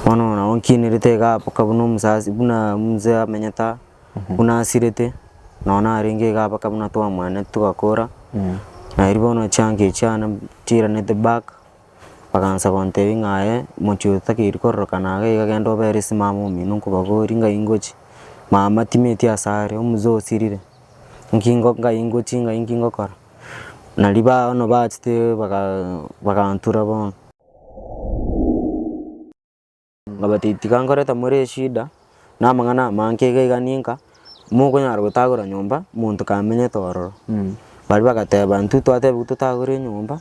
Bono ona oo nkienerete iga mpaka buna omosasi buna mzee amenyete aa, buna asirete, nonye narenge iga mpaka buna twamwenerete togakora, naye riria bono chianga echio chiane chiranete back, bagansa gontebia ng'a aye mochie oyo takeire kororokana iga iga genda obere esimamo omino nkobabori ngai ngochie, mama timeti ase are, omzee osirire, nki ngo ngai ngochie ngai nki ngokora. Naria bono bachete bagaa bagantura bono. Nkabata, Tiga nkorete more eshida, na amang'ana amange iga iga ninka, mokonyara gotagora nyomba monto kamenyete ororo. Baria bagateba, Intwe twatebiwe totagore enyomba.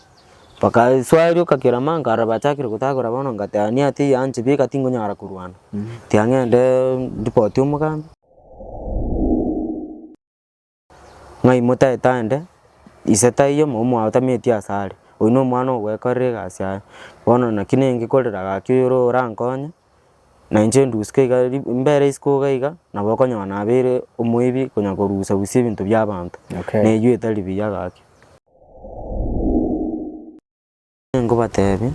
Bakasoerioka kera manka aro bachakire gotagora bono ngateba, Niye ati eye anchire bika tingonyara korwana, tiga ng'ende ndipotie omogambi. Ng'ai motaete aende? Ise taiyo, mobao mwaotametie asare, oyio nomwana ogwekorera egasi yaye. Bono naki nenge korera gaki oyore orankonye, na inche nduske iga ri mbere isiko iga iga, nabo okonyora nabeire omoibi konya korusia rusia ebinto bia abanto, Okay. neyio etari buya gaki. Ninkobateebia,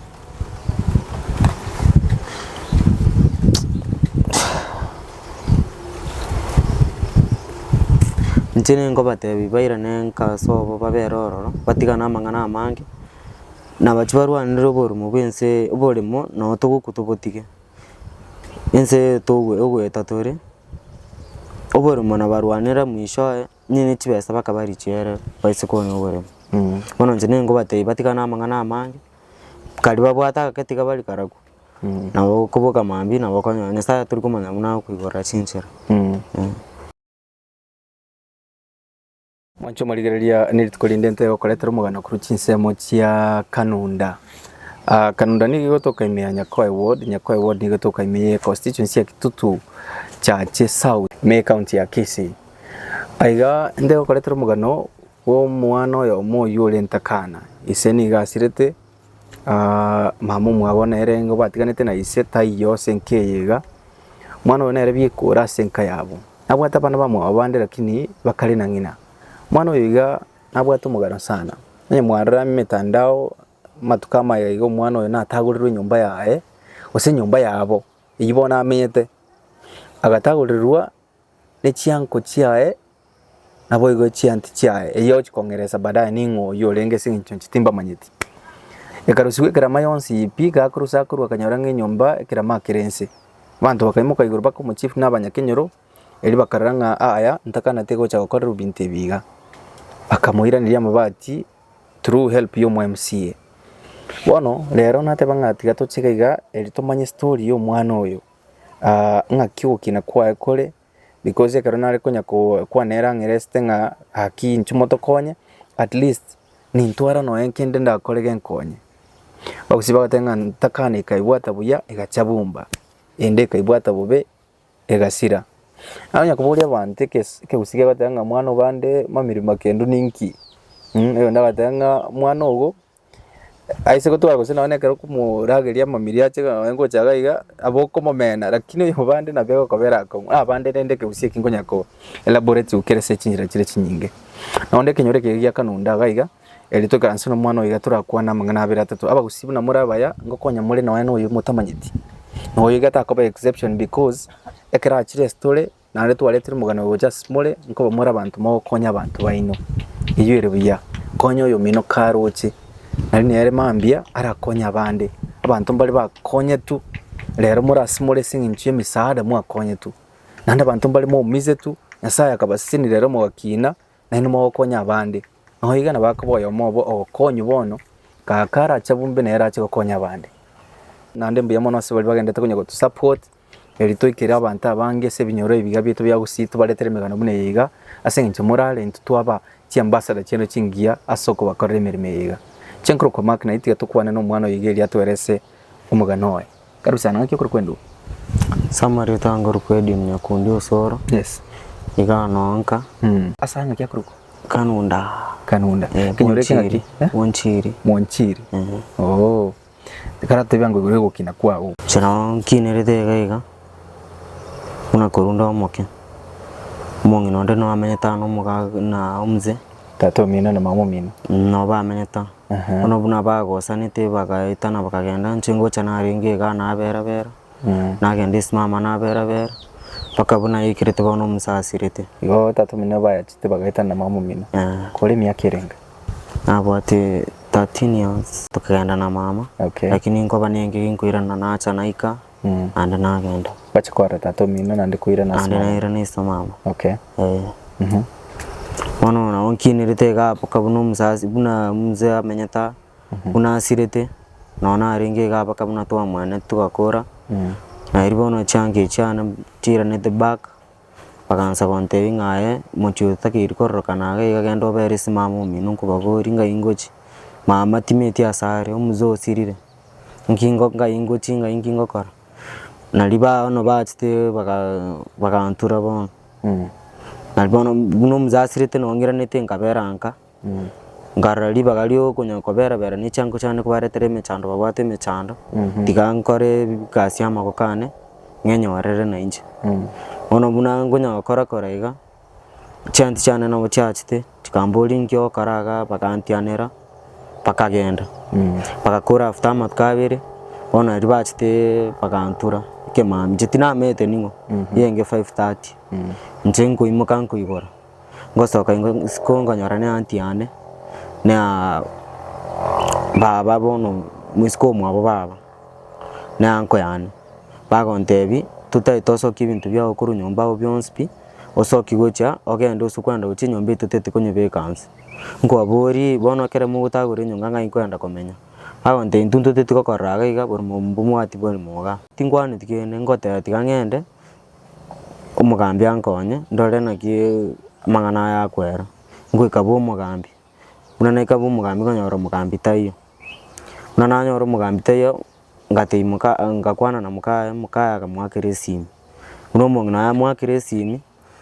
inche ninkobateebia bairane enka ase obo babere ororo, batigane amang'ana amange, nabachi barwanere oborimo bw'ense oborimo nabo togokwa tobotige. Ense eye togo- egoeta tore, oborimo nabarwanere mwishowe. Inche ne chibesa bakaba richiera ere baise konya oboremu. Bono inche nigo ngobatebia batigane amang'ana amange, kari babwate agake tiga bari karabu, nabo koboka mambia nabo okonyora Nyasaye tori komanya buna agokoiborera chinchera. Mwanche omorigereria nerituko rinde intee gokoretera omoganda korwa chinsemo chia Kanunda. Kanunda nigo igotoka ime ya Nyakoe ward, Nyakoe ward nigo etoka ime ye constituency ya Kitutu chache south, ime ye county ya Kisii. Aiga nde gokoretera omogano bw'omwana oyo omoyio orente Kana, ise nigo asirete, mama omwabo nere nigo batiganete na ise taiyo ase enka eye iga, omwana oyo nere bieka ore ase enka yabo. Nabwate abana bamwabo bande lakini bakare na ng'ina. Omwana oyo iga nabwate omogaro sana, onye mwarora emetandao amatuko amaya iga omwana oyo natagorirwe enyomba yaye, gose enyomba yabo eywo bono amenyete, agatagorirwa. ne chianko chiaye naboigo echianti chiaye, eyio ochikong'eresa baadaye ning'o oyio orenge ase eng'encho inche timbamanyeti. Ekarusigwa ekerama yonsi eye pi, iga akorwa ase akorwa akanyora ng'a enyomba ekerama akere nse. Abanto bakaimoka igoro baka omochifu na abanyakenyoro, erio bakarora ng'a aya ntakaneti gocha gokorerwa ebinto ebi iga. Bakamoiraneria amabati through help ya omo MCA. Bono rero nateba ng'a tiga toche iga iga erio tomanye story ya omwana oyo. aah, ng'aki ogokina kwaye kore, because ekero nare konya ko kwana ere ang'e resete ng'a gaki inche motokonye, at least nintwara nonya nkende ndakore genkonye. Bagosibia bagateba ng'a ntakane ekaibwata buya egacha bumba, ende ekaibwata bobe egasira. Nabo onye koboria abanto ekes ekegusii kegoteeba ng'a mwana ogande mamiri makendu ninki? Mh, oyonde agateba ng'a mwana ogo. Ase gotwara gose nonye na ekero okomorageria amamiria ache iga nonye gocha iga iga nabo okomomena lakini oyo obande nabo egokaba erakong'u ah bande rende ekegusii eki nkonya ko elaborate gokiera ase chinchera chire chinyinge. Nabo onde ekenyoro ekero gia kanunda iga iga, eri toikaranse na omwana oyo iga torakwane amang'ana abere atato, abagusii buna more abaya, ngokonya more nonye na oyo motamanyeti, na oyo iga takoba exception because ekero achire story. Naende twaretire omogano oyo gocha ase more, nkoba more abanto mogokonya abanto baino. Eyio ere buya, konya oyomino karoche, nari nere mambia arakonye abande. Abanto mbare bakonyetwe rero more ase more ase eng'encho y'emesaada mwakonyetwe. Naende abanto mbare moumisetwe, Nyasaye akabasesenia rero mogakina, naende mogokonya abande. Nabo iga nabo akoba oyomo obo ogokonywa bono, kaka arache abunbe nere ache gokonya abande. Naende mbuya mono ase baria bagenderete konya gotusupport. Eri toikere abanto abange ase ebinyoro ebiya bieto bia gusii tobaretere emegano buna eye iga, ase engencho morare intwe twaba chiambasada chiaino chingiya ase okobakorera emeremo eye iga. Chenkorokwa Mark na itiga tokwane nomwana oyo iga erio atwerese omogano oye. Karibu sana, ng'aki okorokwa enduma? Summary otanga korokwa edium ya kundi osoro Yes. iga noa nka Ase aya ng'aki akorokwa? kanunda Kanunda. Ekenyoro eke ng'aki? Mwonchiri. Eh? Mwonchiri. Mwonchiri. Eeh. Ooh. Ekero atebia ng'a igoro egokina kwao. Inche nao nkinerete iga iga, buna korwa nde omoke, omong'ina onde nigo amenyete aa nomoga na omze. Tata omino na mama omino. Nabo bamenyete aa. Aha. Bono buna bagosanete bagaetana bakagenda, inche ngocha narenge igaa nabera bera, nagenda esimama nabera bera, mpaka buna naikerete bono omonsa asirete. Igo tata omino bayachete bagaetana na mama omino. Kore emiaka erenge? Nabwate thirteen years tokegenda na mama Okay. lakini nkoba ne eng'ige nkoirana nacha naika naende nagenda Wache kwarora tata omino naende koirana ase naende mama. nairana ase mama Okay. eh. Mhm. Bono nabo nkinirete iga mpaka buna omosasi buna mzee amenyete aa buna asirete nonye narenge iga mpaka buna twamwenerete togakora, nari bono chianga chiane chiiranete back. Bagansa gontebia ng'a aye, mochie otakeiri kororokana iga iga genda obere esimama omino nkobaborie ng'ai ngochie. Mama timeti asare, omzee osirire, nki ngo ngai ngochie ng'ai nki ngokora. Nario bono bachete baga bagantura bono, nario bono buna omzee asirete nonyiranete nkabera nka. Nkarora ribaga riokonya koberabera ne chiango chiane kobaretera emechando babwate emechando, tiga nkore egasi y'amaboko ane, ng'enyorere na inche. Bono buna nkonya gokora kora iga, chianti chiane nabo chiachete, chikamboria inki ogokora igaa, bagantianera, bakagenda. Bagakora after amatuko abere, bono aria bachete bagantura ekemambia, inche tinamenyete ning'o, genge five thirty, inche nkoimoka nkoigora. ngosoka ingo isiko nkonyora na aunty yane na baba bono isiko mwabo baba na uncle yane, bagontebia totagete osokie ebinto biago korwa nyomba agwo bionsi pi, osoki gocha ogende gose kwenda gocha enyomba eye totete konyebeka nse, nkwaborie bono ekero mogotagora enyonga ng'ai nkorenda komenya? Bagontebia intwe ntotete gokorora iga bori momba omwati bwari moga, tinkwaneti kende, ngoteba tiga ng'ende. omogambi ankonye ndore naki amang'ana aya akwera, ngoika bwa omogambi, buna naika bwa omogambi nkanyora omogambi taiyo. Buna nanyora omogambi taiyo, ngatebia moka ngakwana na mokaye, mokaye akamoakera esimi. Buna omong'ina oye amoakire esimi,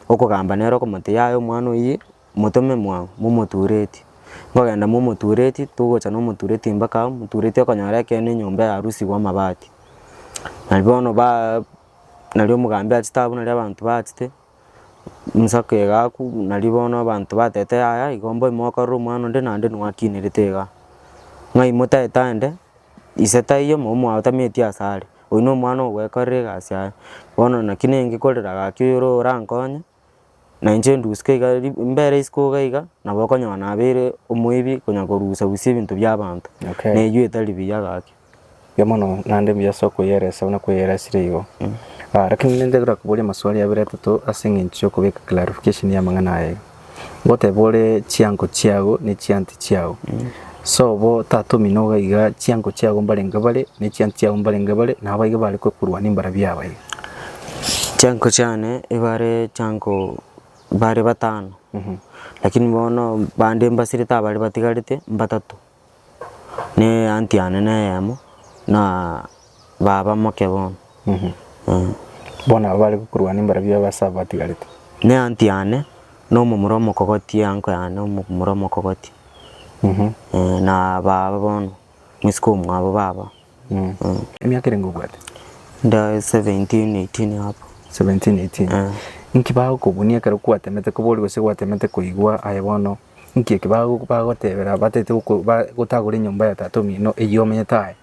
okogamba nere okomotebia yaya omwana oyio motome mwango momoturetie. Nkogenda momoturetie, togocha na omoturetie mpaka amo, omoturetie okonyora ekeene enyomba eyarusigwe amabati. Naende bono ba. nario omogambi achete abwo nario abanto bachete, ensako egakwa nario bono abanto batete yaya igo mbobe mokorora omwana onde naende nwakinerete iga, ng'ai motaete ande, ise taiyo mama omwao tameti ase are, oyio nomwana ogwekorera egasi yaye, bono naki nengekorera gaki oyo orankonye. na inche indusie iga mbere isiko iga iga nabo okonyora nabeire omoibi konya korusia rusia ebinto bia abanto, Okay. na eywo etari buya gaki. Mbuya mono naende mbuya ase okoyeresa buna kweyerasire igo. Ah, lakini ninde gorakoborie amaswali abere atato ase eng'encho ya okobeka clarification y'amang'ana aya iga. Ngoteba ore chiango chiago ne chianti chiago. Sobo, tata omino iga iga, chiango chiago mbarenge bare, ne chiantu chiago mbarenge bare, na abaiga bare kwekurwa nembara biabo iga. Chiango chiane ebare chiango bare batano, lakini bono bande mbasirete abare batigarete mbatato, ne anti yane neyemo na. Baba moke bono. Bono aba bare gokorwana imbarabio y'abase aba batigarete. Neantu yane, na omomura omokogoti enko yane, omomura omokogoti. Na baba bono, omosike omwabo baba. Emiaka erenge obwate? Nda 17, 18 hapo. 17, 18. Eh. Inki bagokobunia ekero kwatemete kobori gose gwatemete koigwa? Aye bono, inki eke bago bagotebera bataete goko ba gotagora enyomba ya tata omino eyio omenyete aye?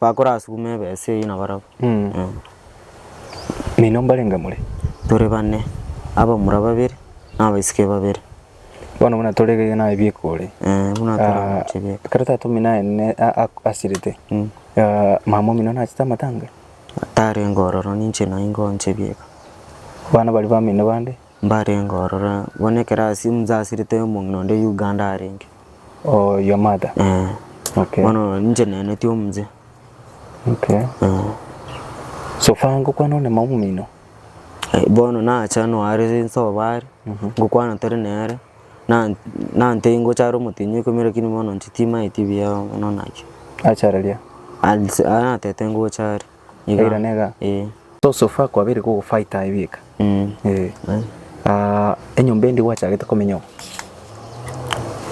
Bakorasuguma ebesa eyio nabarabwo. Nainwe mbarenge more? Tore bane, abamura babere, na abaiseke babere. Bono buna tore gaiga naye bieka ore. Eh, buna Ah, toramoche bieka. ekero tata omino aye ne- a- a- asirete Mm. ah, mama omino nachete amatanga Tarenge ororo ninche naye ngoche bieka. abana baria bamino bande Mbarenge ororo, bono ekero asi- omonto asirete omong'ina onde Uganda arenge. Oh your mother. Eh, Okay. bono inche neneti omonche. Okay. Eh, So far ngokwana one mama omino. eh, bono nacha noare nsoba are, ngokwana tore nere, na- nante ngochare omotinyi oikomia lakini bono inche timaeti buya bono naki. Achareria. Alse- ah, natete ngochare. Eira nega. So so far kwabire kogo fight aye bieka. Enyomba endi gwachagete komenya oo.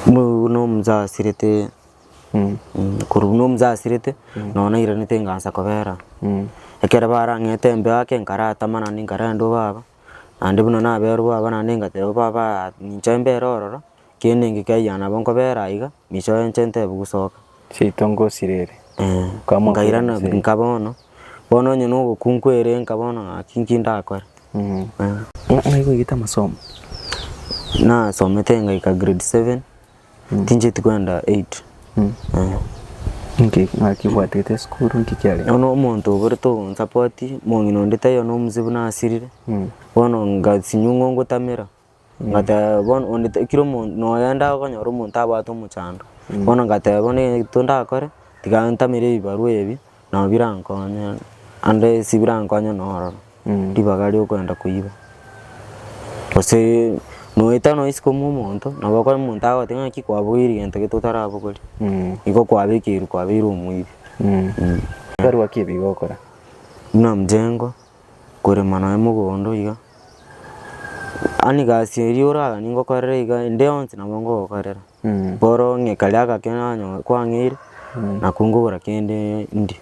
Buna omosasirete korwa buna omosasirete nonye nairanete ngansa kobera. Ekero barang'ete embe ake nkaratama naende nkarendwa baba naende buna naberwa baba naende ngateba baba ninche embe ere ororo. Kende ninki kiayia nabo nkobeera aiga, micho enche ntebe gusoka. Seito ngosirere. Nkairana Nkairana nka bono, bono onye nogokunkwa ere nka bono ng'aki nki ndakore. Ng'ai gwaigete amasomo? Nasomete ngaika grade seven, tinchieti kwenda eight. Nki ng'aki bwatete esukuru nki kiarenge? Bono omonto oborete ogonsapoti, omong'ina onde taiyo na omosibu nasirire, bono ngasinywa ng'o ngotamera. Ngateba, Bono onde ta, kera omonto, noyende agokonyora omonto abwate omochando. Bono ngateba, bono egento ndakore, tiga ntamere ebibarwa ebi, nabo birankonye ande ase birankonye na ororo, ribaga riokoenda koiba. Gose noeta nonya isiko mwa omonto, nabo okore omonto agogotebi ng'aki kwabogoirie egento gete otarabogoria, igo kwabekeirwe kwabeire omoibi. Ekebarwa ki ebi gokora? Buna mjengo. korema nonya mogondo iga, yaani gasi eria oraganie ngokorere iga ende yonsi nabo ngogokorera, bono ng'a karia agake nanyo kwang'eire nako nkogora kende ndie.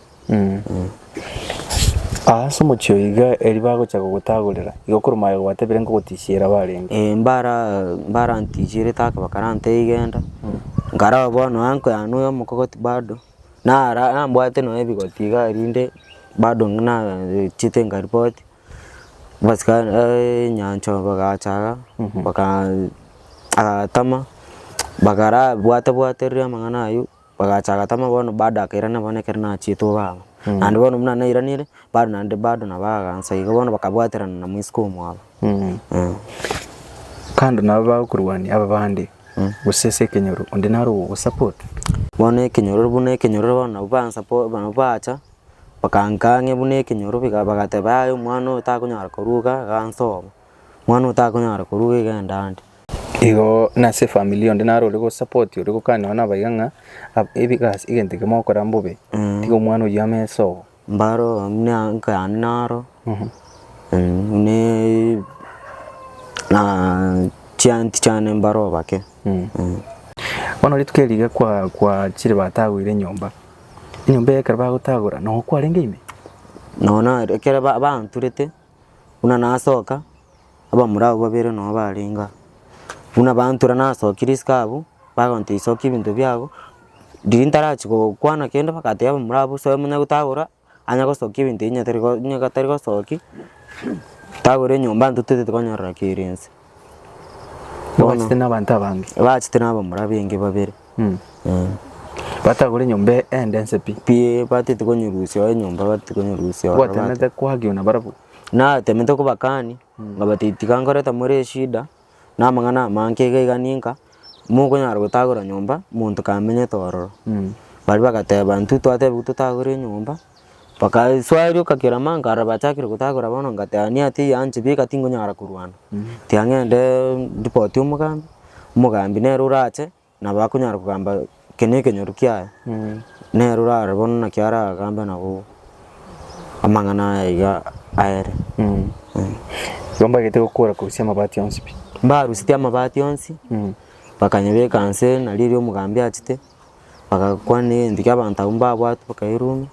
Ase omochie oyo iga erio bagocha gogotagorera, igo korwa aye gwatebire nkogotisiera barenge. Ee mbara mbarantisiere take bakarantee iga enda, nkaraba bono anko yane oyo omokogoti bado, Nara nambwate nonya ebigoti igaa erinde bado ng'a nachiete nkaripoti, abasika eeh nyanchwa bagacha igaa bakaa agatama bagara bwate bwaterire amang'ana aywo, bagacha agatama bono bado akairana bono ekero nachiete obaba. Naende bono buna nairanire bado naende bado nabo agansa iga bono bakabwaterana na mosike omwabo eh. Kando nabo bagokorwania aba bande, Gose ase ekenyoro onde naro ogogosupport. Bono ekenyororo buna ekenyororo bono nabo ba support nabo bacha bakankaa ng'a buna ekenyoro iga bagateba yaya omwana oyo takonyara koruga iga nsoma, omwana oyo takonyara koruga iga enda ande. Igo na ase efamiri onde naro ore gosupport ore gokana nonye na abaiga ng'a ab ebi egasi egento eke mogokora mbobe, tiga omwana oyio ame sobo. Mbaro buna enka yane naro buna chianti chiane mbaro obake. Bono rituko eri iga kwachire batagoire enyomba, enyomba eye ekero bagotagora nogo kwarenge ime? Nonya ekero banturete. Buna nasoka, abamura abwo babere nao barenge aa. Buna bantura nasokia risiko abwo, bagontebi sokia ebinto biago, riria ntarachia gokwana kende bagatebia abamura abwo soe manya gotagora anya gosokia ebinto ebi nyatere go onye gatari gosoki, tagora enyomba ntotete tikonyorera kere inse. Nobachete nabanto abange. Ebachete nabamura benge babere. Mm. Eh. Batagore nyomba ende ense pi. Pi batete konyorusia enyomba batete konyorusia ororo bate- Gwatemete kwagio na barabwo. natemete kobakani ngabati tiga nkoreta more eshida na amang'ana amange iga iga ninka mokonyara gotagora nyomba monto kamenyete ororo Mm. baria bagateba intwe twatebiwa totagore enyomba Bakasoa rioka kerama, nkarora bachakire gotagora bono ngateba niye teiyo anchibe iga tingonyara korwana. Tiga ng'ende ndipotie omogambi, omogambi nere orache nabo akonyara kogamba eke na ekenyoru kiaye, nere orare bono naki aragambe nabo amang'ana aya iga aere. Igo mbagete gokora korusia amabati onsi pi? Mbarusirie amabati onsi, bakanyebeka nse nario erio omogambi achete, bagakwana egento kia abanto abwo mbabwate bakairuma,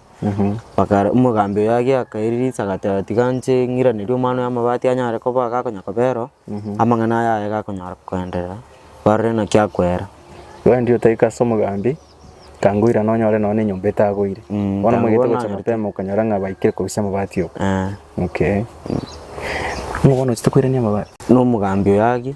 bakare omogambi oye agiaka akaira riisa agateba tiga nche ng'iranerie omwana oyo amabati anyare koba agakonya kobera oo, amang'ana aya aye gakonyara koenderera, barore naki akwera. Wendi otaika ase omogambi, kangoirana onyore nonye na enyomba etagoire. Mm, Bono omanyete tangoba gocha nanyarete. mapema okonyora ng'a baikire korusia amabati oo. Eh, Okay. Ng'a bono ochete koirania amabati. na omogambi oyo agie.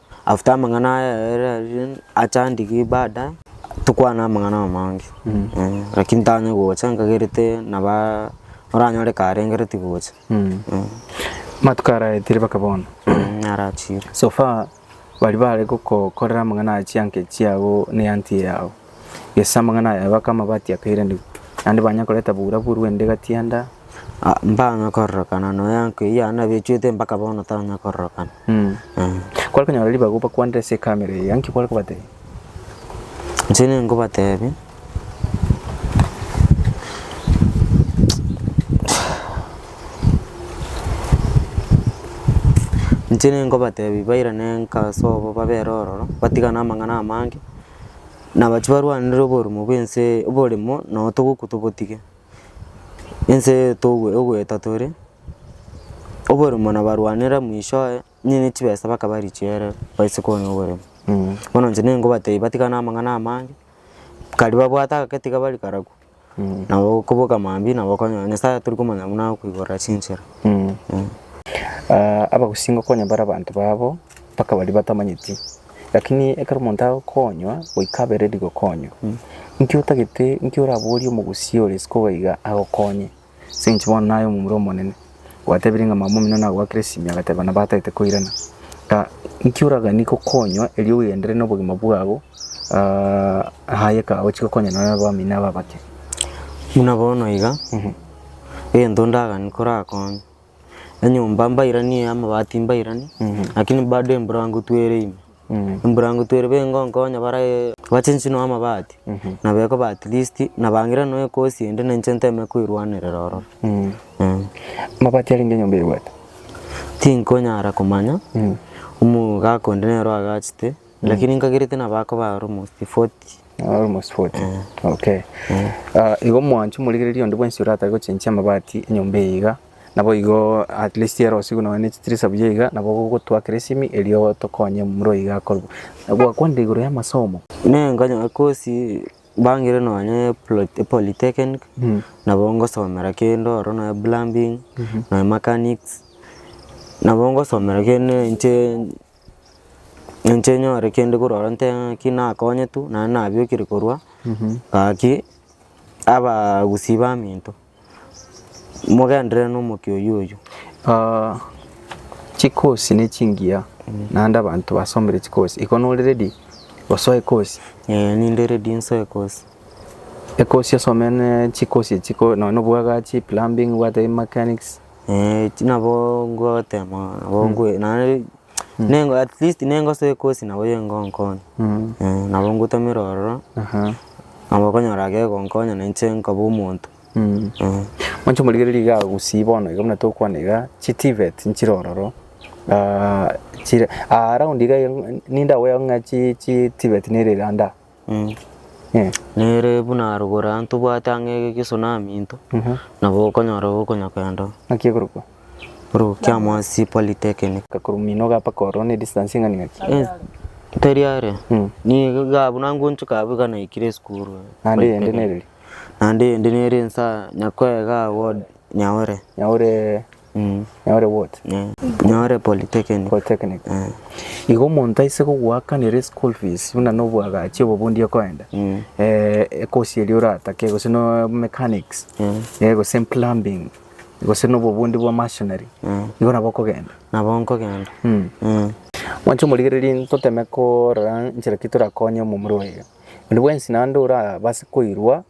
After amang'ana aya achandiki ibada tokwane amang'ana amange lakini tanye gocha nkagerete naba oranyore ka arengereti gocha. Amatuko araetire mpaka bono? Narachire. So far baria bare gokokorera amang'ana aya chianga echiago ne auntie yago? Gese amang'ana aya aye bakama batiakairanigwe, naende banya koreta bura buru ende gati yanda. Mbanya kororokana noyo enko eyio yane nabechwete mpaka bono tanya kororokana. Kware konyora ribaga obakwanere ase ekamera eyio, naki kware kobatebia? Inche ninkobatebia inche ninkobatebia bairane enka ase obo babere ororo, batigane amang'ana amange. nabachi barwanere oborumo bw'ense oboremo nabo togokwa tobotige. Ense eye togwe ogoeta tore, oboremo nabarwanera mwisho oye onye ne chibesa bakaba richiere baise konya oboremo. Bono inche nigo ngobatebia batigane amang'ana amange, kari babwate agake tiga bari karabu. Nabo okoboka mambia nabo okonyora Nyasaye tori komanya buna agokoiborera chinchera. Abagusii ngokonya bare abanto babo mpaka baria batamanyeti, lakini ekero omonto agokonywa goika abereri gokonywa, inki otagete inki oraborie omogusii ore isiko iga agokonye? Sinche bono naye omomura omonene, gwatebirie ng'a mamomino nagwakire esimia agateba nabo atagete koirana, ta nki oragani gokonywa erio ogenderere nobogima bwabo aa aye ka ochi gokonya nonye abamino aba abake. Buna bono iga, egento ndagani korakonye. Enyomba mbairanie, amabati mbairanie, lakini bado emburangutu ere ime. Emburangutu ere iga ngonkonya bare bache inche noe amabati, nabo ekoba at least nabangire noe ekosi ende na inche nteme koerwanerera ororo. Amabati arenge enyomba eruete? Tinkonyara komanya, omogaka onde nere oagachete. Lakini nkagerete nabo akoba almost 40. Almost 40. Eh. Okay. Eh. Uh, igo mwanchu morigereria onde bwensi orata gochenchia amabati enyomba eye iga nabo igo at least ero sigo noe ne chitirisa buya iga nabo gogotwakera esimi erio tokonye muro iga akorwa gwakwanire igoro ya masomo ne nkanyo kosi bangire nonya polytechnic mm -hmm. nabo ngosomera kende oro noe plumbing mm -hmm. noe mechanics nabo ngosomera kende nche Inche nyore kende korwa aro nte ng'aki nakonyetu naende nabiokire korwa ng'aki abagusii baminto mogenderere na omokia oyio oyio. chikosi ne chingiya naende abanto basomire chikosi igo nore ready gosoa ekosi? Ee ninde ready nsoe ekosi. Ekosi osomere chikosi echi ko nonya obwagachi, plumbing, obwate mechanics. Eeh ti nabo ngotema nabo nkwe naende nengo at least nengosoa ekosi nabo yengonkonya eeh nabo ngotumera ororo Aha. nabo okonyora gegonkonya na inche nkoba omonto eeh. Mwanche omorigereria iga gusii bono iga buna tokwana iga chi TVETs nchire ororo chire around iga ninde agoyegokig'a chi chi TVET nere ande aa. Nere buna arogoro aa ntobwate ang'e egesunami into nabo okonyora ogokonya kwenda oo. Naki ekorokwa? Ekorokwa kia Mwasi Polytechnic. Korwa Minoga mpaka ororo ne distance eng'ani ng'aki? Eh teri are nigo igaa buna ngonchoka abwo iga naikire esukuru eh. Naende eyende nere eri? Naende eyende nere nsa Nyakoe igaa ward Nyaure. Nyaure. Nyore what? Nyore polytechnic. Polytechnic. Eh. Igo omonto aise kogoakanera school fees buna nobwagachi obo bondi okoenda mm. eh, ekosi eri oratake gose no mechanics mm. eh, gose plumbing gose nobo bondi bwa machinery mm. igo nabo okogenda nabo nkogenda mm. mm. mwanche omorigereria ntoteme korora nchera ki torakonye omomura oyo ondi bwensi naende orabase koirwa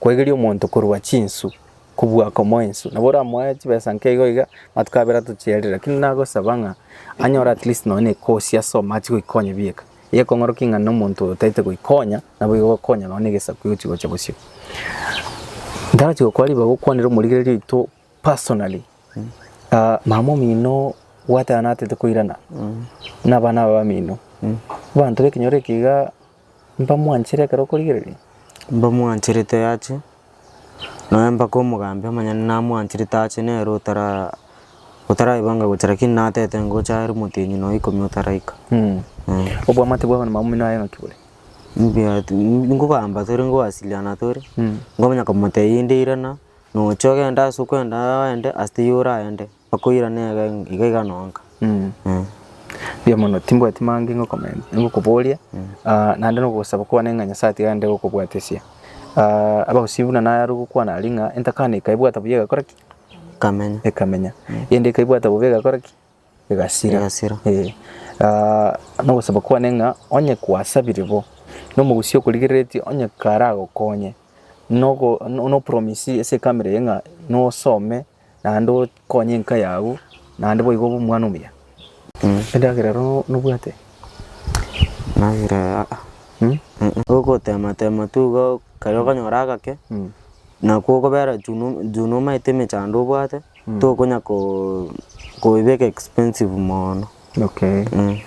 Kwaigeria omonto korwa chinsu kobua komoa ensu nabo oramoe chibesa nke igo iga amatuko abere atochiarire lakini nagosaba ng'a anyore at least nonye na ekosi ase omo achie goikonya bieka iga ekong'orokia ng'a na omonto oyo otagete goikonya naboigo ogokonya nonye na egesaku egochi gocha bosio. Ntarachi gokora ribaga okwanera omorigereria oito personally, mama omino gwateba natete koirana na abana aba bamino, abanto ba ekenyoro eke iga. Mbamwanchire ekero okorigereria. Mbamwanchirete ache, nonya mpaka omogambi omonyene namwanchirete ache nere otara otaraibange gocha lakini natete ngocha aria motienyi nonya ikomi otaraika. Obwamate bwabo na maumino aye naki bore? Mbuya ti- nkogamba tore nkowasiliana tore, nkomanya komotebia inde irana, nocha ogende ase okwenda aye oende ase teiyo oraende. Bakoirana iga iga iga nonka. Eeh. Mbuya mono timbwati mange ngokomen- ngokoboria ah, naende na ogosaba kwane ng'a Nyasae tiga aende gokobwatesia. Ah, abagusii buna nayarwa gokwana aria ng'a entakana ekaebwata buya egakora ki? Kamenya. ekamenya, eyende ekaebwata bobe egakora ki? Egasira. Egasira. Eh. Ah, na ogosaba kwane ng'a onye kwasabire bo, na omogusii okorigereretie onye karagokonye, nogo no- no promise ase ekamera eye ng'a nosome naende okonye enka yago, naende boigo obe omwana omuya. Endagera ero nobwate? Endagera ero aa, Hmm? Ogotematema tu igo ekero okonyora agake, Hmm. nakwo okobera juu no- juu nomaete emechando obwate, tokonya ko- koebeka expensive mono. Okay. Mm.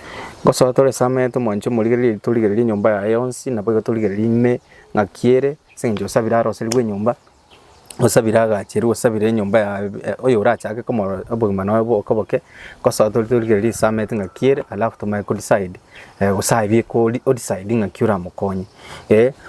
Ngosoa tore ase amaete omwancho omorigererie torigererie enyomba yaye yonsi, naboigo torigererie ime ng'aki ere, ase eng'encho osabire aroseriwe enyomba. osabire agache erio osabire enyomba yaye oyo orachake komorora obogima noye boke boke ngosa tori torigereria risamete ng'aki ere alafu tomanye ko decide gose aye bieka ori o decide ng'aki oramokonye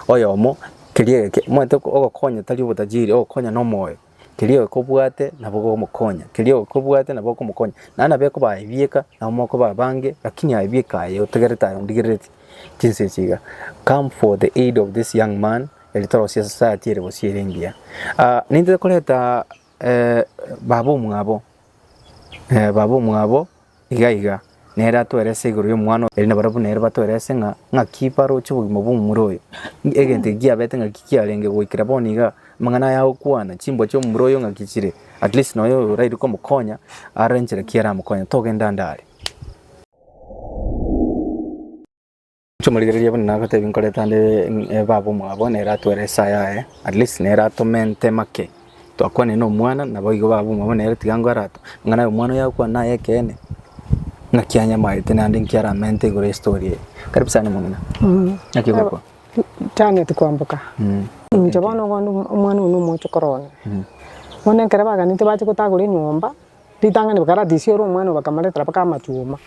oyomo keria egeke omanyete ogokonya tari obotajiri ogokonya na omoyo keria egeke obwate nabo ogomokonya keria egeke obwate nabo okomokonya naende nabo ekoba aye bieka nabo mokoba abange lakini aye bieka aye otegerete aye ondigerereti chinsa echi iga come for the aid of this young man. Eri torosie society ere gose ere engiya. Ah, nintete koreta eh, baba omwabo eh, baba omwabo iga iga nere atwerese igoro y'omwana eri na barabwo nere batwerese ng'a ng'aki baroche obogima bw'omomura oyo Ng- egento eki kiabete ng'aki kiarenge goikera bono iga amang'ana aya agokwana chimbwa chi'omomura oyo ng'aki chire at least nonya oyo oraire komokonya arore enchera ki aramokonye togenda ande are Chimorigererie buna nagotebi nkorete ande eh, baba omwabo nere atwere esaa yaye at least nere atome nte make twakwane na omwana nabo igo baba omwabo nere tiga ngo arato ng'a naye omwana oyo agokwana naye ekeene ng'aki anyamaete naende nki aramente igoro ya story eye karibu sana omong'ina naki ogokwa Janet kwamboka Mm. inche bono bono omwana oyo nomochokoro one bono ekero baganete bache gotagora enyomba ritang'ani bakaratisia ore omwana oyo bakamoretera mpaka amachuma,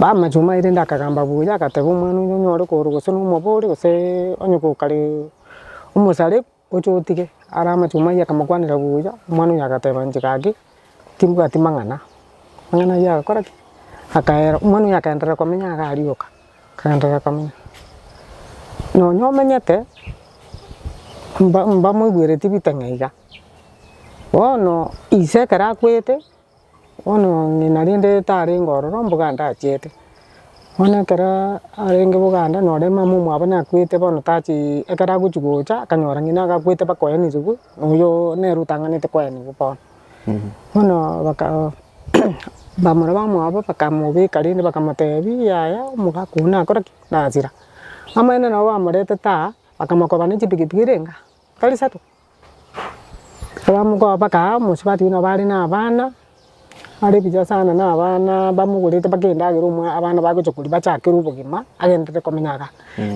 amachuma aye rende akagamba buya agateba omwana oyio onyore korwa gose nomobori gosee onye gokare omosarebu oche otige are amachuma ayio akamokwanera buya omwana oyio agateba inche gaki timbwati mang'ana, mang'ana ayio agakora ki? Akaera omwana oyio akaenderera komenya iga arioka, akaenderera komenya nonya omenyete mba mbamoigweretie bitang'a iga. Bono ise ekero akwete, bono ng'ina rende tarenge ororo mboganda achiete, bono ekero arenge boganda nore mama omwabo nakwete bono tachi ekero agochi gocha akanyora ng'ina akakwete bakoenigigwe na oyo nere otang'anete koenigwa bono. Bono baka bamura bamwabo bakamobeka rende bakamotebi yaya omogaka oyio nakora ki? Nasira. Amaene nabo bamoretete aa, bakamokoba ne chipikipiki renge aa, tari isato? Abamogoa bakaaa omosubati buna bare na abana, are buya sana na abana bamogorete mpaka endagera omwa abana bagocha koria bachakere obogima agenderere komenya iga.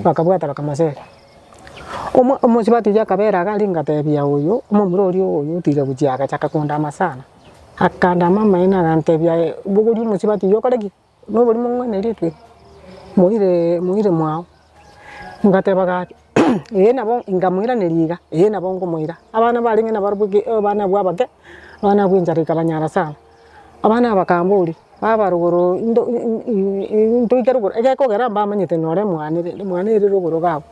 Bakabwata bakamosera. Omo omosubati oyio akabera iga rika ngatebia oyo omomura oria oyo otiga gochia agachaka kondama sana. Akandama amaene agantebia eh, bogoria omosubati oyio okore ki? Nobori mong'wenerete moire moire mwao, ngateba gaki ee nabo nkamoiraneria iga, ee nabo nkomoira. Abana barenge nabo barabwo ki abana abwo abake, abana abwo enchara ekabanyara sana, abana aba bakamboria, baba rogoro into intoike rogoro, egekogera mbamanyete nore omwane rende omwana ere rogoro gabo,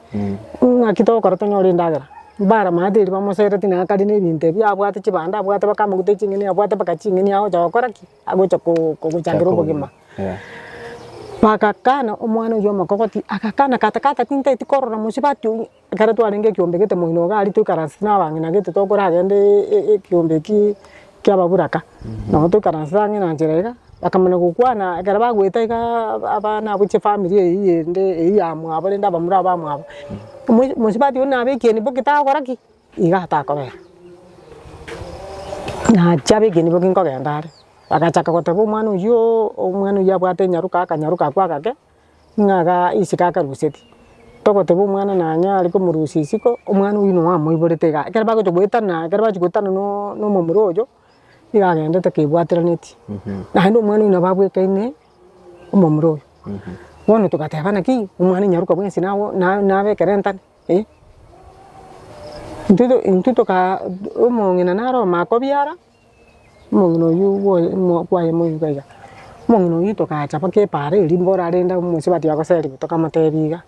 ng'aki togokora tonyore endagera, mbaramate erio bamosereti nere kare na ebinto ebi, abwate chibando abwate baka amagutha eching'eni abwate mpaka ching'eni agocha gokora ki. agocha kogochandera obogima. Bagakana omwana oyio omokogoti agakana kata kata tintageti korora mosubati oyio. Ekero twarenge ekiombe gete moino iga aria toikaranse na abang'ina gete tokoragende ekiombe ekio kia ababuraka. Nabo toikaranse abang'ina nchera iga bakamana gokwana ekero bagoeta iga abana abo chifamiri eyio ende eyio ya mwabo rende abamura ba mwabo. Mosubati oyio nabekirie boki tagokora ki? Iga atakobera, naachia abegeni nigo nkogenda are, agachaka goteba omwana oyiooo, omwana oyio abwate enyaruka, akanyaruka ako agake, ng'a iga isiko akaruseti, togoteba omwana nonye are komorusia isiko, omwana oyio nonya amoiborete igaa, ekero bagochia goetana, ekero bachia goetana noo nomomura oyo, igo agendete kebwateranetie, naende omwana oyio nabo abwekaine omomura oyo, bono togateba naki, omwana nyaruka bwensi nago na- nabekere entane. intwe tokaa omong'ina naro omakobiara, omong'ina oyio kwaye moika iga, omong'ina oyio tokacha mpaka epaara eria mborarende abwo omosubati agoserigwe tokamotebia iga,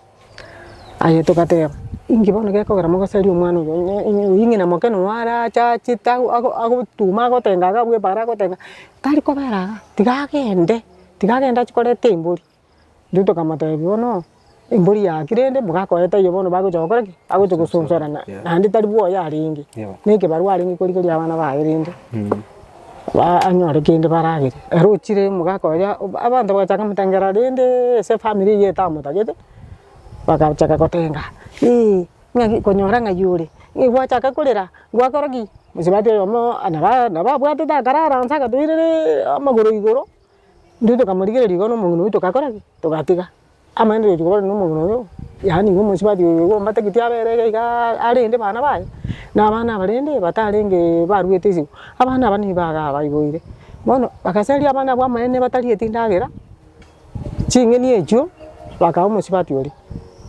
aye togateba inki bono gekogera mogoserie omwana oyo, onye onye oyio ng'ina moke noo arache achete ago ago agotume agotenga iga abwo epaara agotenga, tari kobera iga, tiga agende, tiga agende achie koreta embori. Intwe tokamotebia, Bono embori yaki rende mogakoe taiyo bono bagocha gokora ki? Bagocha gosonsorana, naende tari bwoye arenge, na ekebarua arenge korigereria abana baye rende ba anyore kende baragere. Ere ochire mogakoyia obo abanto bagacha bakamotengera rendeee ase efamiri eyio etamotagete, bagachaka gotenga eeh ng'aki konyora ng'ai ore, eeh gwachaka korera gwakora ki? Mosubati oyomo naba naba abwatete akarara onsi akatoirereee amagoro igoro. Intwe tokamorigereria igo na omogina oyio togakora ki? Togatiga. Amaene togochia kobarana na omogina oyio, yaani igo omosubati oyo igo ombategete abe ere iga igaa arende abana baye, na abana abarende batarenge baruete isiko, abana aba nigo iga baiboire. Bono bagasaria abana abwo amaene batarieti endagera, ching'eni echio bakaaa omosubati oria.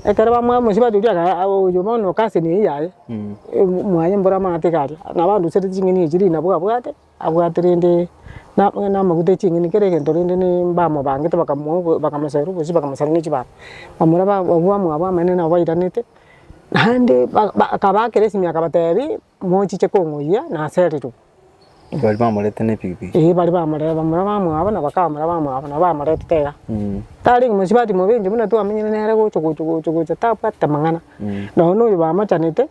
Ekero bamoa omosubati oria agaa oyo bono kasi neye yaye, mwaye mboro amato iga aria, nabo arusereti ching'eni echi rinabu abwate. Abwate rende namaguta eching'eni kera egento rende mbamobangete bakamoa bakamosaera obosie bakamosaera ne chibando. Bamura abwo abamwabo abanene nabo bairanete, naende akabaakera esimi akabatebi mochiche kong'oyia nasererwe. Bari bamoreta ne epikipiki. Eeh bari bamoreta bamura abamwabo na baka bamura abamwabo nabo bamoretete iga. Tarenge mosubati mobenche buna twamenyire nere gocha gocha gocha gocha tabwate amang'ana. Nonye noyo bamochanete.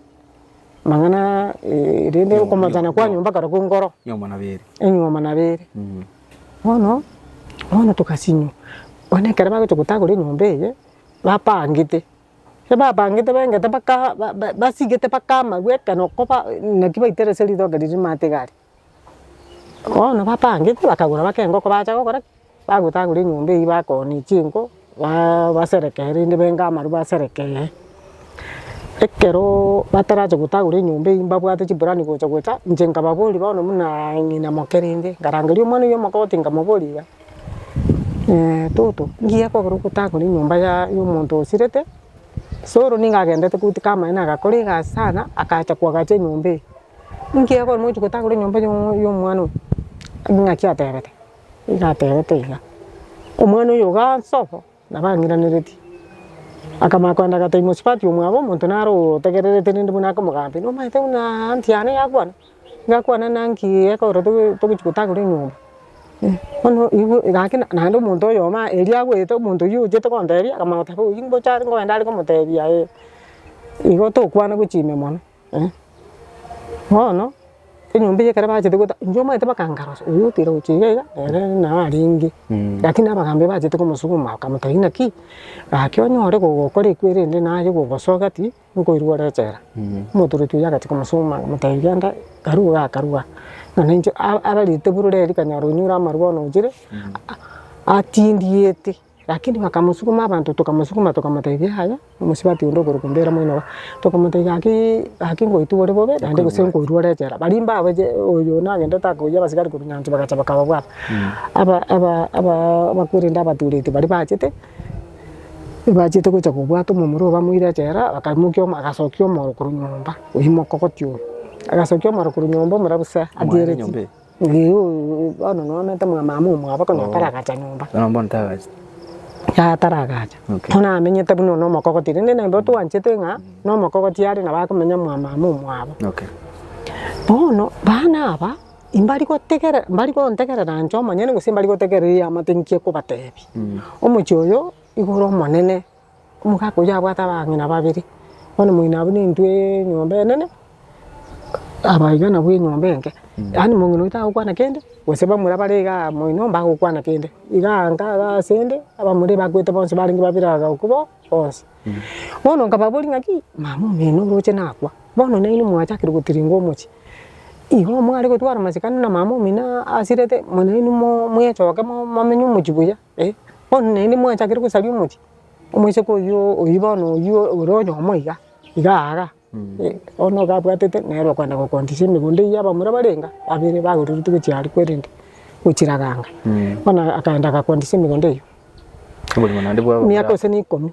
Amang'ana eh, rende Nyomba, okomachana nyomba, kwa nyomba. nyomba korokwa nkoro Nyomba na beri. enyuoma na bere Mm. bono bono togasinywa bono ekero bagocha gotagora enyomba eye bapangete ekero bapangete bengete baka ba- ba- basigete baka amarwe ekero koba naki baitera ase ritoke riria amate iga aria. Bono batangete bakagora mpaka engoko bacha gokora ki? Bagotagora enyomba eywo bakooni chinko baa baserekee rende benge amaru baserekee, ekeroooo batarache gotagora enyomba eywo mbabwate chiburani gocha gocha, inche nkababoria bono munaa ng'ina moke rende, nkarangeria omwana oywo omokoti nkamobori iga, toto ngiye kogera ogotagora enyomba ya ya omonto osirete, soro nigo agendete goika amaene agakora egasi sana, akacha koagacha enyomba eye. Inki ekero mochia gotagora enyomba y'omwana oyo? Ing'aki atebete, nigo atebete iga, omwana oyo iga ase obo nabo ang'iraneretie, akamanya kogenda agatebia mosubati omwabo omonto naro otegererete rende buna akomogambia, nomanyete buna aunt yane yakwana, yakwana naki ekero togochia gotagora enyomba? Bono igo gaki naende omonto oyomo erio agwete omonto oyio ochete gotebia akamanya goteba oyio mbocho are kogenda are komotebia ee, igo tokwana gochia ime mono. Bono enyomba eye ekero bachete gotama, inche omanyete bakangara gose oyo otira gochia iga iga ere nao arenge, rakini abagaambi bachete komosuguma bakamotebia ng'aki, gaki onyore gokora ekwo erende naye gogosoka pi nkoirwa ore echela. Omotoroti oyio agachia komosuguma akamotebia genda karue igaa karue aa, nonya inche ararete bororeri kanyara onyure amarwa bono ochire atindiete. Lakini bakamosukuma abanto, tokamosukuma tokamotebia, Yaya, omosubati onde okorokwa Mbera moino oo. Tokamotebia, Gaki, gaki ngoitwe bore bobe, naende gose nkoirwe ore echela. Baria mbabe je, oyo nagendete akoiyia abasigari korwa nyansi bagacha bakababwata. Aba, aba, aba, abakwerende abatureti baria bachete, bachete gocha kobwata omomura oo bamoire echela, bakaimokia omo, agasokia omoro korwa nyomba, oimoka ogotia oyo. Agasokia omoro korwa nyomba omurabu se, atieretie. Igooo, bono noonete mwamama omwabo konya ataragacha nyomba. Bono mbono tagacha. Yaya taragacha. Okay. Bono amenyete buna one omokogoti, rende naende otwanchete ng'a na omokogoti are nabo akomenya mwamama omwabo. Okay. Bono bana aba, imbari gotegera mbari gontegerera inche omonyene gose mbari gotegerera eamate inkie kobatebi. Omochie oyo, igoro omonene. Omogaka oyio abwate abang'ina babere, bono moino abwo nintwe enyomba enene, aba iga nabwo enyomba enke. Yaani mong'ina oyio tagokwana kende, gose bamura bare iga moino mbagokwana kende. Iga anka iga asende, abamura ebakwete bonsi barenge babere abagoko bo bonsi. Bono nkababoria ng'aki, mama omino oroche nakwa, bono nainwe mwachakire gotiringa omochie, igo mware gotwara amasikani na mama omino asirete, mbu nainwe mo- moechoke mo- momenye omochie buya. Eh, bono naende mwanchakire gosaria omochie, omoiseke oyio oyio bono oyio ore oyomo iga, iga aaga, eh, bono iga abwatete nere okoenda gokontisia emegondo eyio abamura barenge babere bagotoreti gochia aria kwerende, gochiraganga, bono akaenda agakontisia emegondo eyio, Oborimo naende bwaba miaka bora. gose na ikomi.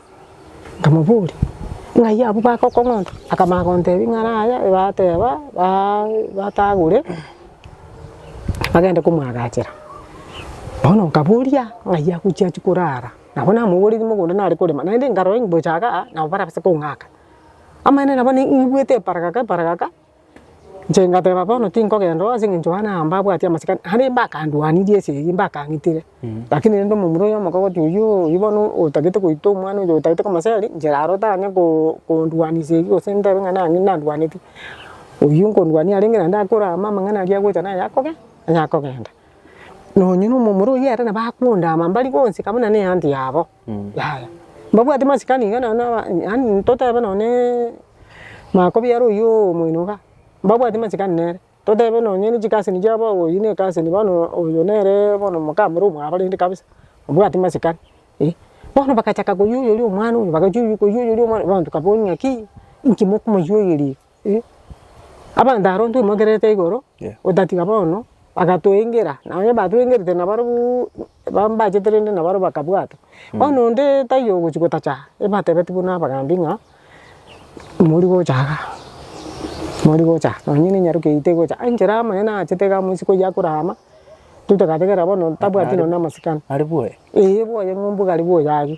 Nkamoboria, Ng'ai abwo bagokong'onta? Akamanya gontebia ng'a ara aya bateba baa batagure bagende komwagachera. Bono nkaboria ng'ai agochi achia korara, nabo namoboretie mogondo nare korema, naende nkarora inbocha igaa nabo barabase kong'aka. Amaene nabo naigwete eparagaka eparagaka. Inche ngateba bono tinkogenda oo ase eng'encho Yohana aa mbabwati amasikani, naende mbakandwanirie ase eyio mbakang'itire, lakini rende omomura oyo omokogoti oyio oyio bono otagete goita omwana oyo otagete komoseri, inche raro tanya ko kondwanisa eyio gose ndebe ng'a nang'e ndandwaneti, oyio nkondwania arenge naende akore amo amang'ana aria agocha naye akobe akogenda. Nonye na omomura oyio ere nabo akondaama mbari gonseka buna na eanty yabo. Yaya, mbabwate masikani iga nonye na aba- yaani totebe nonye ne makobiara oyio omoino iga, mbabwate masikani nere, totebe nonye ne chikasini chiabo awo oyio ne ekasini bono oyo nere bono mokamura omwabarente kabisa, obwate masikani eh. Bono bagachaka koywoyoria omwana oyo, bagachaka koywoyoria omwana oyo, abanto kabooria ng'aki, inki mokomoywoyoria iga. Abanto aro ntumokererete igoro otatiga bono bagatoengera na onye batwengerete na barobuu bambachete rende na baroo bakabwata. Bono onde taiyo ogochi gotacha ebatebeti buna abagambi ng'a mori gocha iga, mori gocha iga nonye ne enyaroke eyio tegocha iga enchera amang'ana achete iga amo isiko eyio akore ama intwe togategerera bono tabwati nonye na amasikani. Ari bwoye? Eeh bwoye ng'umbu gari bwoye aria.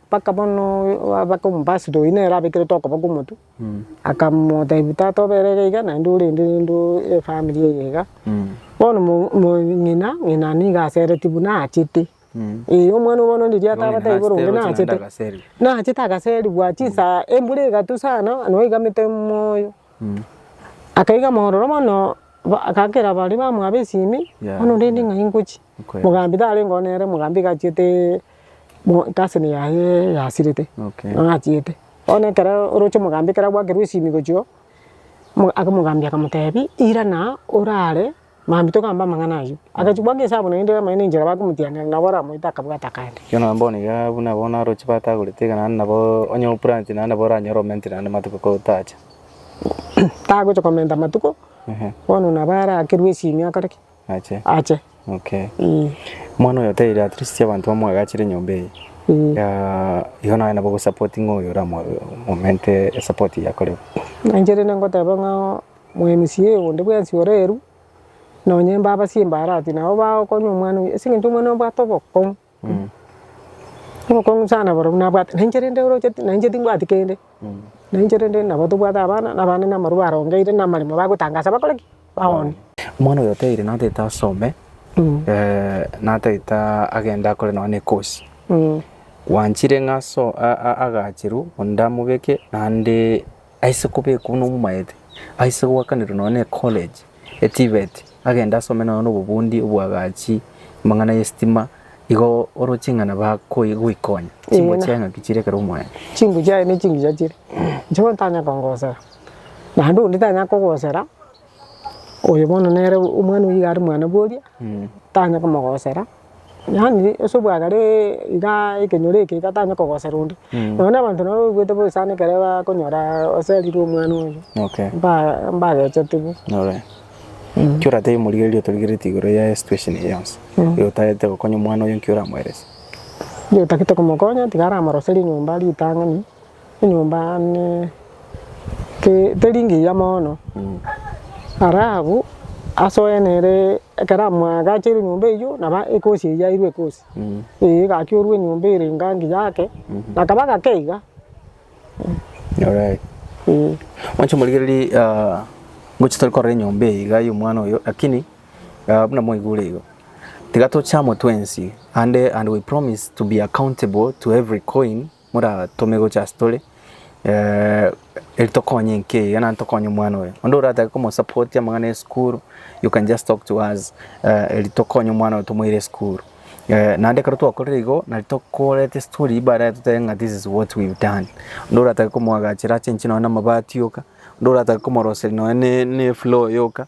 Mpaka bono abake omobasito oyio nere abekerete okoboko omotwe, akamotebia, Tata obere iga iga, naende orende rende efamiri eye iga. Bono ng'ina, ng'ina nigo aseretie buna achete. Ee, omwana bono onde riato abatebie bono onde nachete. Nachete agaserigwa chisaha, embura egatu sana, noo eigamete moyo. Akaiga mororo bono, agakera baria bamwabo esimi, bono rende ng'ai ngochie? Mogambi tarengeo nere, mogambi iga achiete casini yaye yasirete, nigo achiete. Bono ekero oroche omogambi ekero agwakerwa esimi gochia oo, aka omogambi akamotebia irana orare mambia togambe amang'ana ayio. Agachia kobwaa ngesabu naende ere omonyene enchera bakomotianera nabo oramoete akabwate akande. Erio nabo bono iga buna bono aroche batagorete iga naende nabo onye oplanti naende nabo oranyore omentire naende amatuko kotacha. Tagocha komenta amatuko, bono nabo arakerwe esimi akore ki? ache. Okay. Eh. Mwana oyo oteire at least abantu bamoagachire nyomba eye. Mm. Ya igo naye nabo go support ngo oyo ra momente support ya kore. Nanjere ne ngoteba ngo mwenisi ye onde bwensi oreru nonye mba basimba arati nabo ba okonyo mwana. Singe nto mwana obwate oboko. Obokong'u sana barobwo nabwate, na inche rende oroche na inche timbwati kende, na inche rende nabo tobwate abana, na abana namaru barongeire na amaremo bagotangasa bakore ki? Baone. Omwana oyo oteire natagete asome, natagete aa- agende akore nonye na ekosi, gwanchire ng'a aso- a- a- agacherwe onde amobeke naende aise kobekwa buna omomaete, aise goakanerwa nonya ne ecollege e TVET, agende asome nonya nobobundi oboagachi amang'ana y'esitima, igo oroche ng'a nabo akoe goikonya. Chingo Eeh. chiaye ng'aki chire ekero omoeete? Chingu chiaye ne chingiya chire, inche ntanya kongosera, naende onde tanya kogosera, oyo bono nere omwana oyo iga are mwana bworia, tanya komogosera. Yaani ase obwagare igaa ekenyoro eke iga tanyare kogosera onde, nonya na abanto nabo baigwete bobe sana ekero bakonyora oserirwe omwana oye Okay. mba- mbagechete bo. Alright. Ekio oratebie omorigereria otorigeretie igoro ya situation eye yonsi, eye otagete gokonya omwana oye nki oramoerese? Ekio otagete komokonya tiga aramoreserie enyomba ritang'ani, enyomba yaane teri ngiya mono, ara abwo ase oyene ere ekero amwagacheire enyomba eywo nabo ekosi eywo yairwe ekosi eye egakiorwa enyomba ere enga ngiya ake akaba gake iga. Mwanche morigererie ngochia tore korora enyomba eye iga ya omwana oyo lakini buna mwaigure igo tiga tocha amo twensi ande and we promise to be accountable to every coin. moratome gocha ase tore eri tokonye enka eye naende tokonye omwana oyo. Onde oratake komosapotia amang'ana esukuru you can just talk to us eri tokonye omwana oyo tomoire esukuru. Naende ekero twakorire igo nari tokoreta estori baadaye totebe ng'a this is what we've done. Onde oratake komoagachera achenche nonye namabati yoka, onde oratake komoroseria nonye ne efloor yoka.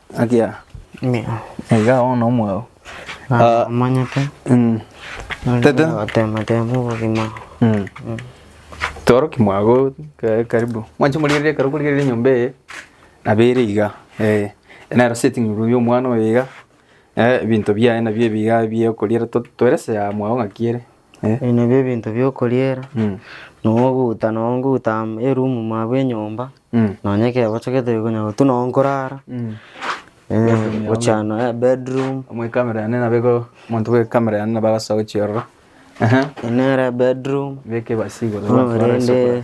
Akia Mia. iga bono omwao Ah, Omanyete. mm, Tete. Gotema tema obogima. mm. toroki mwago ka- karibu mwanche morigereria ekero okorigereria enyomba eye nabo ere iga eh, nero sitting room ya omwana oyo iga eh, ebinto biaye nabio ebi iga bia okoriera to- toerese ya mwago ng'aki ere. Ebi nabio ebinto bi'okoriera, nonya ogotuta nonya ngotuta eroom mwa bw'enyomba, nonya ekero ochagete konya gotwa nonya nkorara, gochia nonya bedroom, Omwa ekamera yane nabo igo omonto bwa ekamera yane nabo agasoa gochia ororo. Eyi nere bedroom, Beka ebasi igoro bono rende.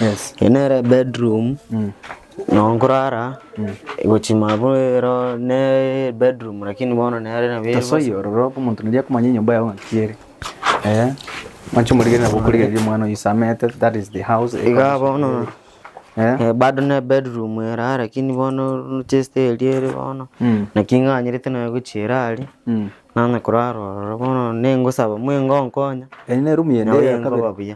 Eye nere bedroom no nkorara egochima abwo ero ne bedroom lakini bono nere nabo ere Tosoyie ororo omonto noria akomanya enyomba yao ng'aki ere. Eh, mwanche omorigererie nabo okorigereria omwana oyo oisamete, that is the house. Iga bono Eh? eh, bado ne bedroom ere aye lakini bono chest eria ere bono Mm. naki ng'anyerete naye gochiera aria Mm. nanye korara ororo bono nengosaba mwe ngonkonya Eri ne room yende Naye eya kabere. nkoba buya.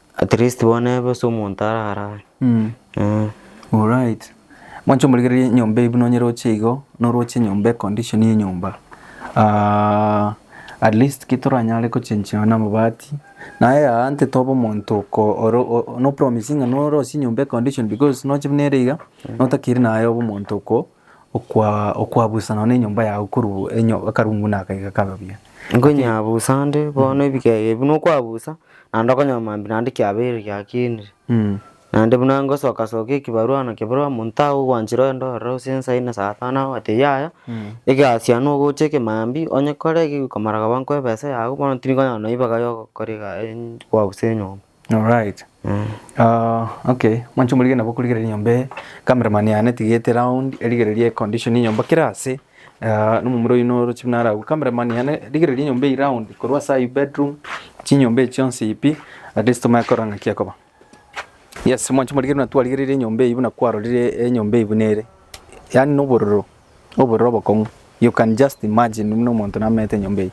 At least bono ebe ase omonto ararare. Alright. Mwancha omorigereria enyomba eye buna onye roche igo, noroche enyomba econdition ya enyomba ah at least ki toranyare gochenchigana na amabati naye aa nte tobe omonto oko ore o nopromisinga norosie enyomba econdition because noche buna ere iga notakiri naye obe omonto oko okwabusana nonya enyomba yago korwa akarungu na akaiga kabe buya. Nkonyabusa nde bono ebikega ebi nokwabusa naende okonyora mambia naende kiabeire giakinire. Naende buna ngosoka soka ekibarua na kebarua omonto aye ogwanchire ogende ororo gose nsa ine saa tano agote yaya egasi yane ogocha eke mambia onye kore ekegokomara koba nkoebesa yago bono tiri konyara naibaga yogokora egaa kwabusa enyomba. Alright uh, okay mwancho murige nabo kurigereria nyomba eye cameraman yane tigete round erigererie condition ya nyomba kera ase uh, nomomura oyino orochi buna aragwe cameraman yane rigereria nyomba eyi round korwa ase ayi bedroom chinyomba echi chionsi ipi at least tomanye korora ng'aki ekoba yes mwancho morigereria buna twarigereire enyomba eyi buna kwarorire enyomba eyi buna ere yani nobororo oborere obokong'u, you can just imagine buna omonto namanyete enyomba eye,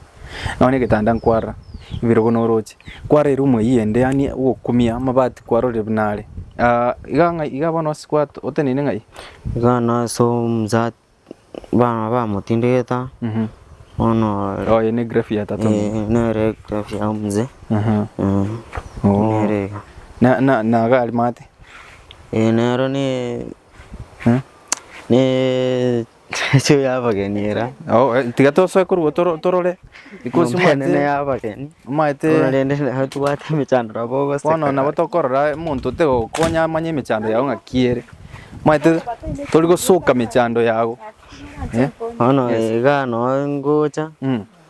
nonya egetanda nkwarora, ebirogo na oroche, kwara eroom eywo ende yaani ogokumia amabati kwarorire buna are, aah iga ng'ai iga bono ase gwa oteneine ng'ai? Iga bono ase omosat bana bamotindegete bono ore Oye ne grave ya tata omonto. eeh nere egrave ya omosee Aha. eeh Oo. nere iga. Na na na iga aria mate. Eeh nero ne Ne chio ya abageni era. Oh, eh, tiga tosoe korwa toro- torore because Nyomba enene mwate ya abageni. mwate Bono rende naye tobwate emechandero abo ogoseka. bono nabo tokorora omonto otegokonya amanye emechando yago ng'aki ere omanyete tori gosoka mechando yago eh? Bono iga no ngocha.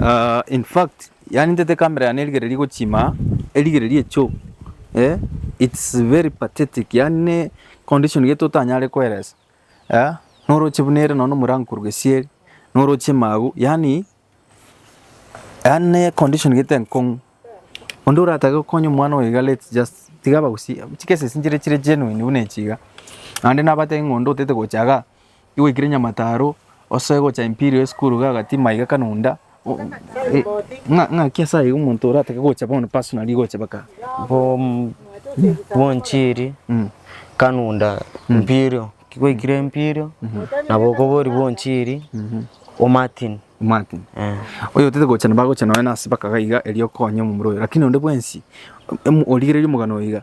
Ah, in fact, yani ntete kamera yane erigereria gochima, erigereria echo. Eh, it's very pathetic. Yani ne condition geto tanyare koeresa. Eh, noroche buna ere nono murango koru gesieri, noroche magu, yani yani ne condition gete enkong'u. Onde oratake gokonya omwana oyo iga let's just tiga abagusie, chi cases nchire chire genuine buna echi iga. Naende nabatebie ng'a onde otete gocha iga Igwekire Nyamataro ose gocha Imperial high school iga agati maiga kanonda ng'aki ase aye omonto oratake gocha bono personally gocha baka bwonchiri kanonda Imperial kigwekire Imperial nabo okobori bwonchiri o Martin Martin oyotete gocha nabo agocha nonya ase baka iga erio okonye omomura oyo lakini onde bwensi origereria omogano oyo iga